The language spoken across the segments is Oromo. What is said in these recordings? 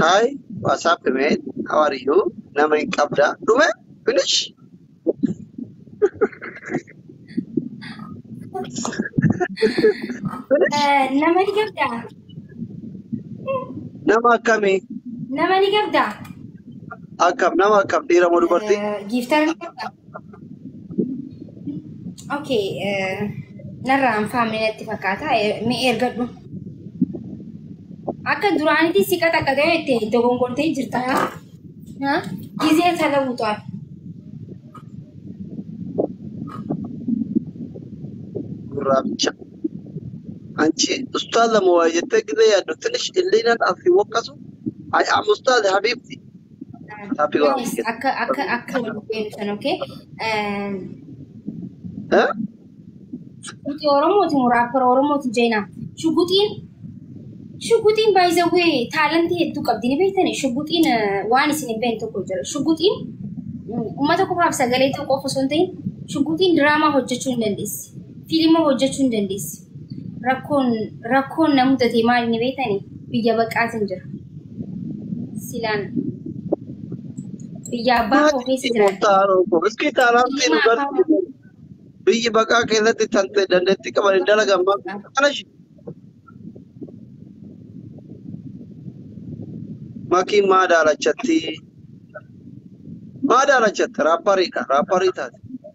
Hi what's up man how are you nama hin qabda dhume finish finish Eh, Nama ni qabda? nama akkamii Nama ni qabda? akkam nama akkam dhiira moo dubartii Eh, Giiftar ni qabda? Okay, eh, narraa anfaamne natti fakkaata. Eh, Mee ergadhu. Akka duraanitti si qaxaqatee itti dogongortee jirta. ha? Ha? Gizee sana butu'an. gurraacha. Anchi ustaaza moo waa jettee gizee yaaddu tinish illiinan asii waqqasu. I am ustaaza habiibti. Happy Yes, Wahoo Kenya. akka akka akka wal beektan okay. Eh, Huh? Shuguxii Oromooti moo raappara Oromooti jeenaa? Shuguxiin shuguxiin by the way taalantii hedduu qabdi ni beektani shuguxiin eh, waan isin hin beekne tokko jira shuguxiin mm, uummata qofaaf sagalee ta'uu qofa osoo hin ta'in shuguxiin diraamaa hojjechuu hin dandeessi fiilima hojjechuu hin dandeessi rakkoon rakkoon na mudate maal ni beekani biyya baqaatin jira silaan biyya abbaa koo keessa jira Iskii taaraan ta'e nu gargaaru. Biyyi baqaa keessatti tan ta'e dandeettii qaban hin dalagan maaf kana shi. Makiin maa daalachatti? Maa daalachatti? Raapparii dha. Raapparii taate.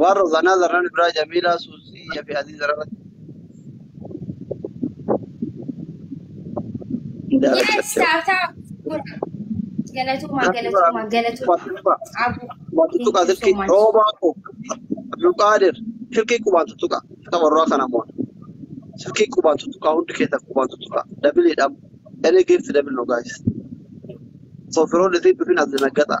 Waan Rozanaa Zarraan Ibraa Jamiilaa Suusii fi Aziiz Zarraan Yes, taataa gurgura. Galatoomaa, galatoomaa, galatoomaa. Abuu, Qubaan tuttuqaa thank you so silkii much. roobaa koo Abdulqaadir silkii qubaan tuttuqaa akka warraa kana moo silkii qubaan tuttuqaa hundi keessan qubaan tuttuqaa dabiliidhaan any gift dabil no guys so firoon isin dhufin as dinaggataa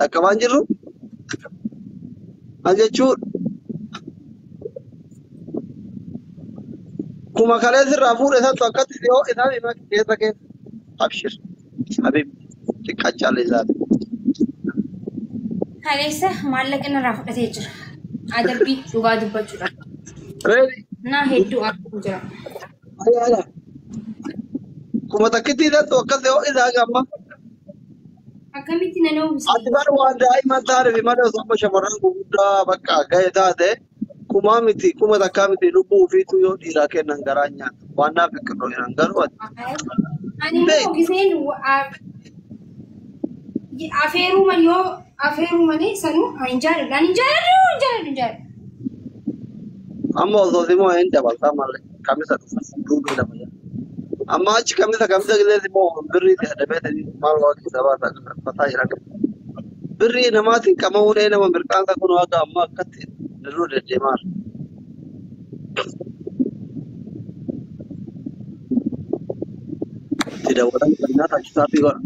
Dhaqqabaa hin jirru? Maal jechuudha? Kuma kalee sirraa fuudhe santu akkatti si hoo'e sana hima keessa keessa. Abshir. Habib. Xiqqaa caallee isaati. Kaleessa maallaqa irraa fudhatee jira. Adabbii dhugaa dubbachuudha. Reedi. Naa hedduu arguu jira. Ayyaala. Kuma takkittii santu akkatti hoo'e isaa gamma. Akkamitti nan uwwise? Ati bar waan daa'ima taatee malee osoo amma shamarran gurguddaa bakka ga'e taate kumaa miti kuma takkaa miti lubbuu ofiitu yoo dhiiraa kennan garaa nyaata. Waan naaf hin kennu jiran garuu ati Ani immoo beeku. giseen wa- a- afeeruma yoo afeeruu malee sanuu ani hin jaalladhu. Ani hin jaalladhu, hin jaalladhu, hin jaalladhu. Amma osoo simoo hin dabaltaa malee. kamisa dhufu fuudhuu nama jedha. Amma achi kamisa kamisa illee immoo birrii itti adabeetanii maal waan keessaa baasaa fataa jira. Birrii namaatiin qama'uun ee nama mirqaansa kun waaqa amma akkatti dirruu deddeemaa. Itti dawwalan kan nyaata achisaa fi godha.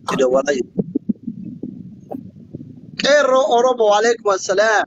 Itti dawwalaa jiru. Qeerroo Oromoo waalaikum assalaam.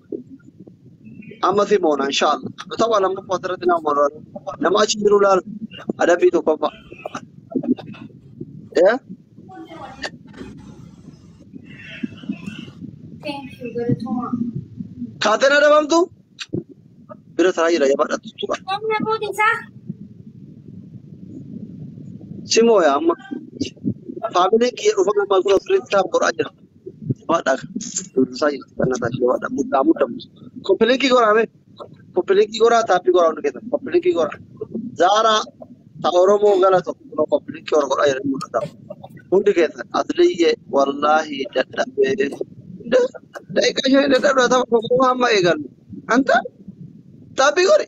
amma si moona inshaalla tapha lammaffaa asirratti nama moona nama achi jiru laala adabbii tokkoffaa Eh? kaateen adabamtu bira taraa jira jabaa dhattu tura si mooya amma faamiliin kiyya dhufa gammaa kun ofirratti taa'u godhaa jira Jabaadhaa kan durbisaa jirti kan nataa ishee jabaadhaa muddaa muddaa koppilinkii goraa mee koppilinkii goraa taappii goraa hundi keessan koppilinkii goraa zaaraa ta oromoo gala tokko kunoo koppilinkii oro godhaa jedhanii mul'ataa hundi keessan asliyyee wallaahi dadhabee daqiiqaa ishee dadhabdaa tapha tokko hamma eegallu anta taappii godhi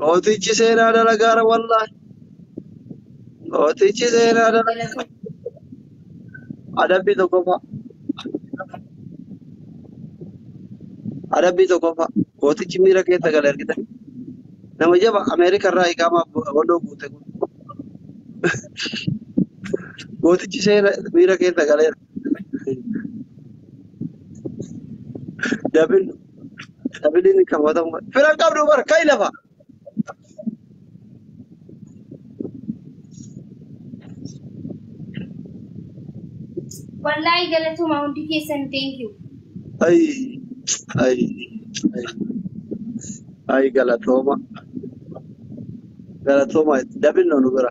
Mootichi seenaa dalagaara wallaahi. Mootichi seenaa dalagaara. Adabbii tokkoffaa. Adabbii tokkoffaa. Mootichi miira keessa gale argita. Nama jaba Ameerika irraa hiikamaa walloo guute kun. Mootichi seena miira keessa galeera. Dabil dabiliin kan watamu fira hin qabdu bar kai lafa. Wallaahi galatoomaa hundi keessan thank you. Ay ay ay ay galatooma galatooma dabil nu bira.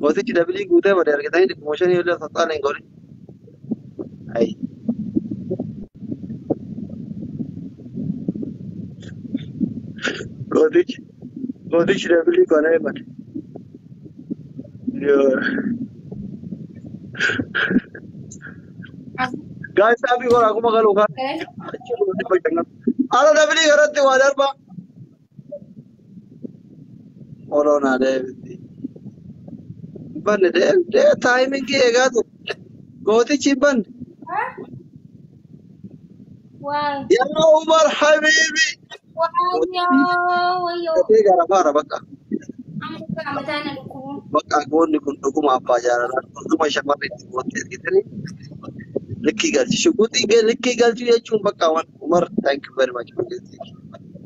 Mootichi dabilii guutee bade argitanii dhibbuma shanii illee osoo xaala hin godhin. Ayi. Mootichi mootichi dabilii qana'ee bade. Yoo. Gaa'is dhaabbii goraa kuma galuu kaa. Achi dhibba shannan. Ala dabilii garatti waa darbaa. Oloon haa deebitti. Banne deemtee taayimingii eegaa turte. Gootichi hin banne. Waay. Yaa Umar Habiibi. Waayoo wayyoo. Dafee gara faara bakka. Amma dhugaa mataa na dhukkubuu. Bakka goonni kun dhuguma abbaa jaalalaa dhuguma shamarri itti gootti ergitanii likkii galchi. Shuguxii ga- likkii galchuu jechuun bakka waan Umar thank you very much.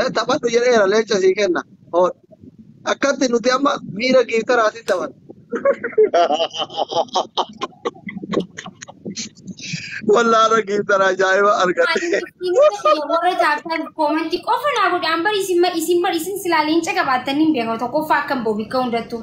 Eh, taphadhu jedheera leenca sii kenna. Hood. Akkatti nuti amma miira giiftaraatiin taphanna. Wallaala giiftara ajaa'iba argadhe. warra taatan koomantii qofa naa godhaan bari isin isin bari isin silaa leenca qabaattan hin beekan tokkoffaa akkan boobi ka'u hundattuu.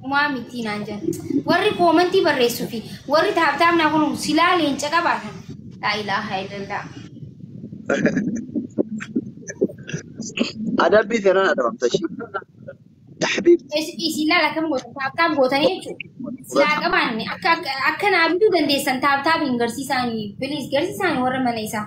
Dhumaa mitii naan jan. Warri koomantii barreessu fi warri taabtaab naa kunuun silaa leenca qabaatan. Laa ilaaha illallah. Adabbii feenaan adabamta ishii. Tahbiibti. Is- Isin laala akkam gootan taabtaab gootan jechuudha. Silaa qabaanne akka akka- akka naa bituu dandeessan taabtaab hin garsiisaanii. Bilis garsiisaanii warra mana isaa.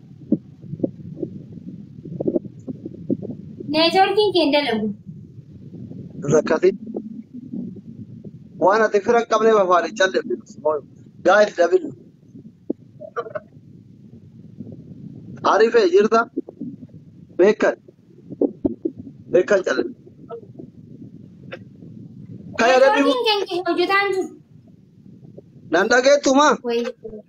Neetwoorkiin kee hin dalagu. Rakkatin. Waan ati fira hin qabneef afaan hin callifne. Gaa'if dabil. Arifee jirta. Beekan. Beekan callifne. Kaya dabibu. Neetwoorkiin kee hojjetaan jiru. Nan dhageettumaa. Wayii.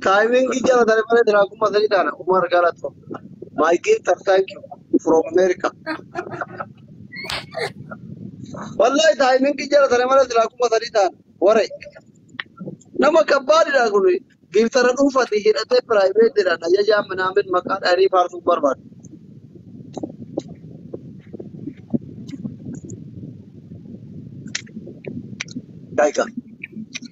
Timing jala tare male dira kuma sadi dana Umar Galato. My gift of thank you from America. Wallahi timing jala tare male dira kuma sadi dana. Ware. Nama kabbaadi dha kun. Giftara dhuunfati hidhatee private dha. Ajajaa minaamin maqaa dhaarii faarsuu barbaadu. Daika.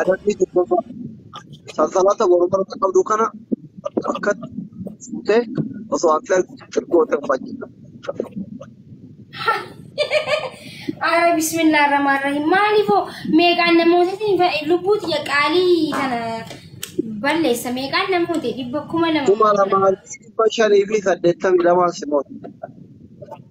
Adabbii tokkoffaa sansalata morma irra qabdu kana harkatti fuutee osoo ati argitu goota hin fayyadu. Ara bismillah rahmaan rahim maaliifoo meeqaan namootatiin fa- lubbuu tiyya qaalii kana balleessa meeqaan namoota dhibba kuma lama Kuma lamaa fi dhibba shanii fi saddeettamii lamaan si mo'atu.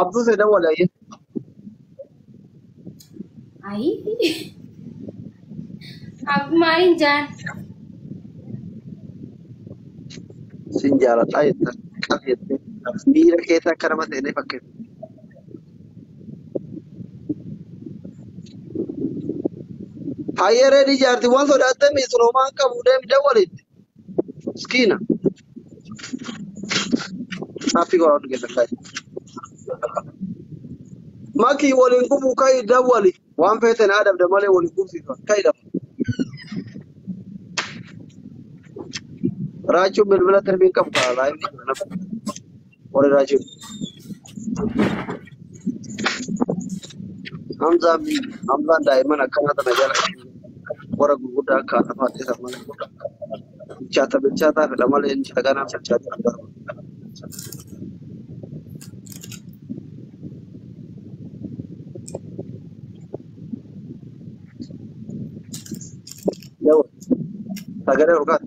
Abduu se dawwala ye. Ayi. Akkuma ayin jaan. Sin jaaladha jetta. Qaf jettee. Miira keessa akka nama seenee fakkeessa. Hayyee reedii jaartiiwwan sodaattee miisiroomaa qabu deemi dawwalitti. Miskiina. Happy go out get the guy. Maki waliin gubuu kai dawwali. Waan feete naa dhabda malee waliin gubsiifa. Kai dhabda. Raachuun bilbila tirbiin qabu kaa laayinni. Warri raajii Hamzaan Hamzaan daa'imman akkanaa tana jala warra gurguddaa akka haadha fa'aa ta'e malee bilchaata bilchaataa fedha malee inni dhaganaa bilchaata hin barbaadu. Yoo sagalee ol kaate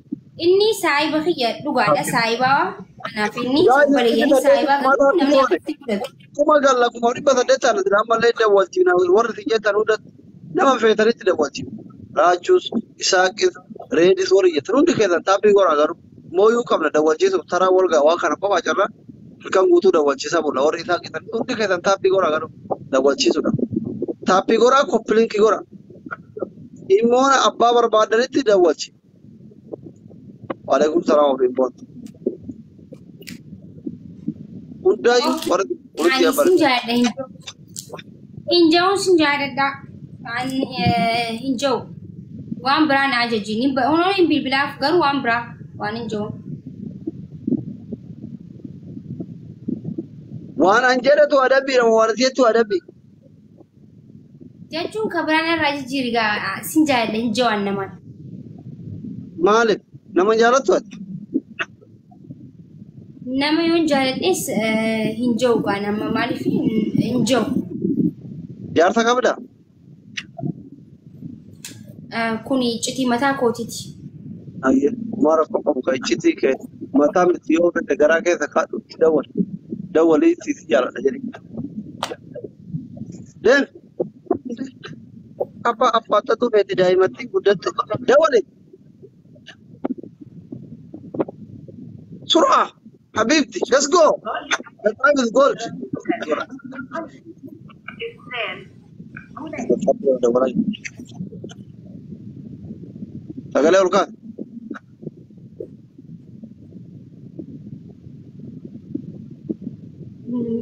Inni saahiba kiyya dhugaadha saahibaa anaaf inni obboleeyyan saahibaa garuu namni akkatti fudhatu. Kuma galla kuma dhibba saddeet taana jira ammallee dawwaltii na warri si jettan hunda nama feetanitti dawwaltii. Raachuus, Isaaqis, Reedis warri jettan hundi keessan taabbii goraa garuu mooyuu qabna dawwalchiisuuf taraa wal ga'a waan kana qofaa carraa halkan guutuu dawwalchiisaa bulla warri isaa jettan hundi keessan taabbii goraa garuu dawwalchiisuudha. Taabbii goraa koppilinkii goraa. Dhimmoona abbaa barbaadanitti dawwalchi. Waalaikum salaam ofiin boontu. Hundaayyuu Okay. warra hojii Ani sin abarra. jaalladha hin jiru. Hin jiru sin jaalladha. Ani eh, hin jiru. Waan biraa na ajaji. Ni ba- Onoon hin bilbilaaf garuu waan biraa waan hin jiru. Waan an jedhatu adabbiidha waan jettu adabbi. Jechuun kan biraan irraa jijjiiri gaa sin jaaladha hin jawaan namaan. Maaliif? Nama hin jaalattu ati? Nama yoon jaaladhes eh, hin jawu gaa nama maaliif hin hin jawu. Jaarsa qabdaa? Eh, Kun iccitii mataa kootiiti. Ayyee. Kumaa rakkoo qabu kan iccitii kee mataa miti yoo fedhe garaa keessa kaadhu itti dawwali. Dawwalii itti si jaaladha jedhi. Deem. Abbaa affaatatu feeti daa'imatti guddatte. Dawale. Sur'a. Habiibti. Let's go. The time is gold. Sagalee ol kaasa.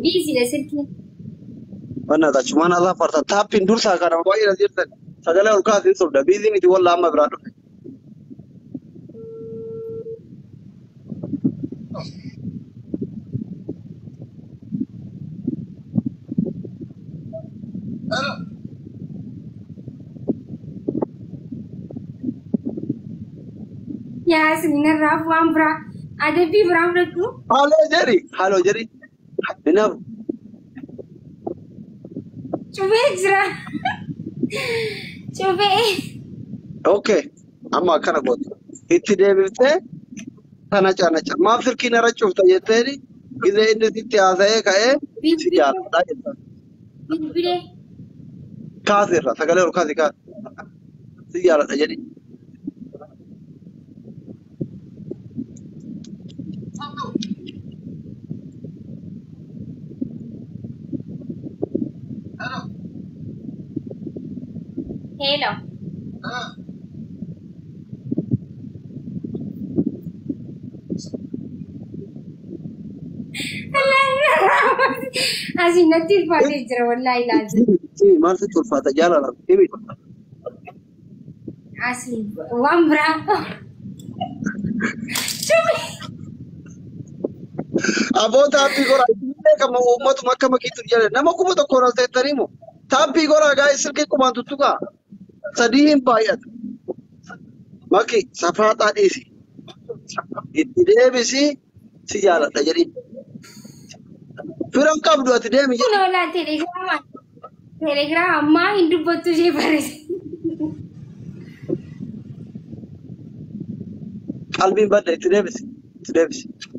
Biiziidha sirkiin. Mana ta cuman Allah farta tapin dursa kana wai na jirta sagala ol kaas hin sobda bizi miti walla amma bira dhufe Hello. Yaa isin irraa waan biraa adabbii biraa fudhadhu. Haaloo jedhi. Haaloo jedhi. Hinaaf. Cufee jira. Cufee. Okay. Amma akkana goote. Itti deebiftee tana canacha. Maaf silkii nara cufta jetteeni gizee inni sitti haasa'ee ka'ee si jaalladha jetta. Bilbilee. Kaasi irraa sagalee ol kaasi kaasi. Si jaaladha jedhi. Hello. Asiin natti ulfaatee jira wallaahi ilaalcha. Himi maal sitti ulfaata jaalala himi. Asiin waan biraa. Aboo taabbii goraa isinillee kan uummatuma akka makiitu jala nama kuma tokko ol ta'ettanii moo taabbii goraa gaa silkii kumaan tuttuqaa. Sadii hin baay'atu. Maki safaaxaa dhiisi. Itti deebisi si jaaladha jedhiin. Fira hin qabdu ati deemi jedhi. Kunoo laa telegiraama telegiraama ammaa hin dubbattu ishee barreesse. Qalbiin badda itti deebisi. Itti deebisi.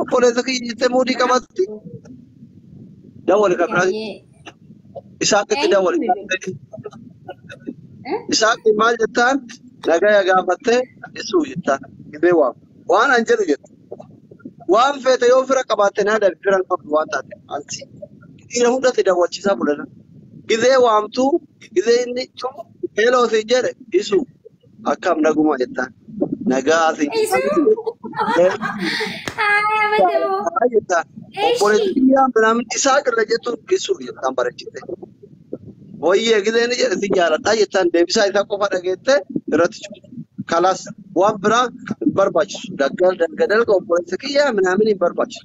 Obboleessa kiyya jettee muudii qabatti. Dawwali kan biraa Eeyyee. isaatti dawwali. Isaatti maal jettaan? Nagaya gaafattee isuu jettaan. Gibee waam. Waan an jedhu jette. Waan feete yoo fira qabaatte naa darbi fira hin qabdu waan taate. Ansi. Dhiira hundatti dawwachiisaa bulana. Gizee waamtuu gizee inni heeloo si jedhe isuu. Akkam naguma jettaan. Nagaa fi Isa Aya madamo. Nagaa jettaan. Eshi. Obboleetti biyyaa minaamin isaa qirra jettuun geessuuf jettaan bareechite. Wayyee gisee ni jedhe si jaaladhaa jettaan deebisaa isaa qofa dhageette irratti cufte. Kalaas waan biraa hin barbaachisu. Daggal dalga dalga obboleessa kiyyaa minaamin hin barbaachisu.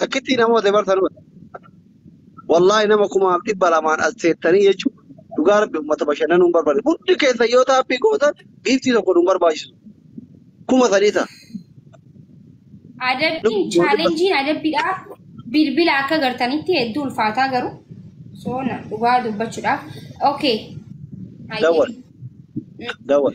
Takkittii namoota bar tanuma. Wallaahi nama kumaaf dhibba lamaan as teettanii jechuun dhugaa rabbi uummata bashannanuu hin barbaanne. Hundi keessa yoo taappii gootan giiftii tokko nu hin barbaachisu. Kuma sadii ta'a. Adabbiin Lubbuun dhibba chaalenjiin adabbiidhaa bilbila akka gartanitti hedduu ulfaataa garuu soona dhugaa dubbachuudhaaf. Okay. Hayyee. dawwal. Dawwal.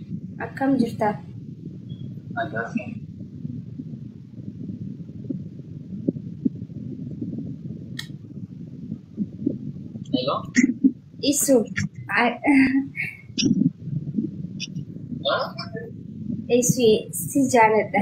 Akkam jirta? Nagaa fi. Hello? Isu. Huh? Isu si jaaladha.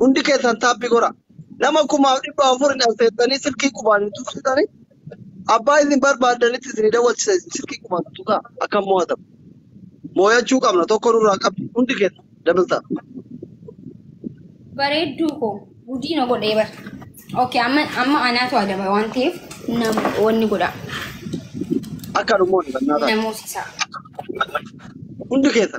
Hundi keessan taappi godha. Nama kumaaf dhibba afur hin affeertanii silkii qubaan hin tuqsitanii abbaa isin barbaadanitti isin dawwachisa isin silkii qubaan tuqaa akka mo'atamu. Mooyachuu qabna tokko nurraa qabdi hundi keessa dabaltaa. Bareedduu koo gudiina godhee bar. Okay amma amma anaatu adaba waan ta'eef nama wanni godha Akka dhumoonni kan naataa. namoosisaa. Hundi keessa.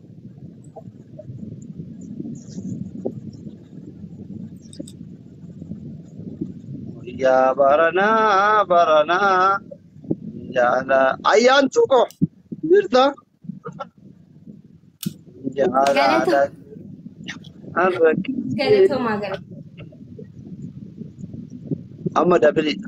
Guyyaa baranaa baranaa jaala ayyaantuu koo jirta jaala Galata. dhaqaan rakkisee Galatoomaa galatoomaa. amma dabiliidha.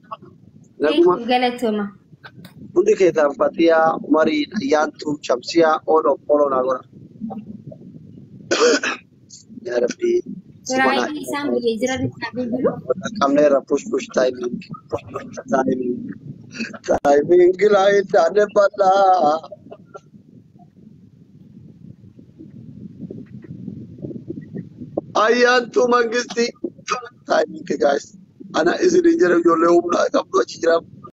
Naguma Thank you galatoma. hundi keessan Fatiyaa, Umarii, Ayyaantuu, Shamsiyaa, Ooloo, Ooloo naa godha. Yaa Rabbii subanaa Firaayii isaa isaan biyya jira bitaa bilbilu. qabnee irra push push timing push push timing timing laa hin taane bal'aa. Ayyaantuu Mangistii Timing guys. Ana isin hin jedhu ijoollee humna qabdu achi jira.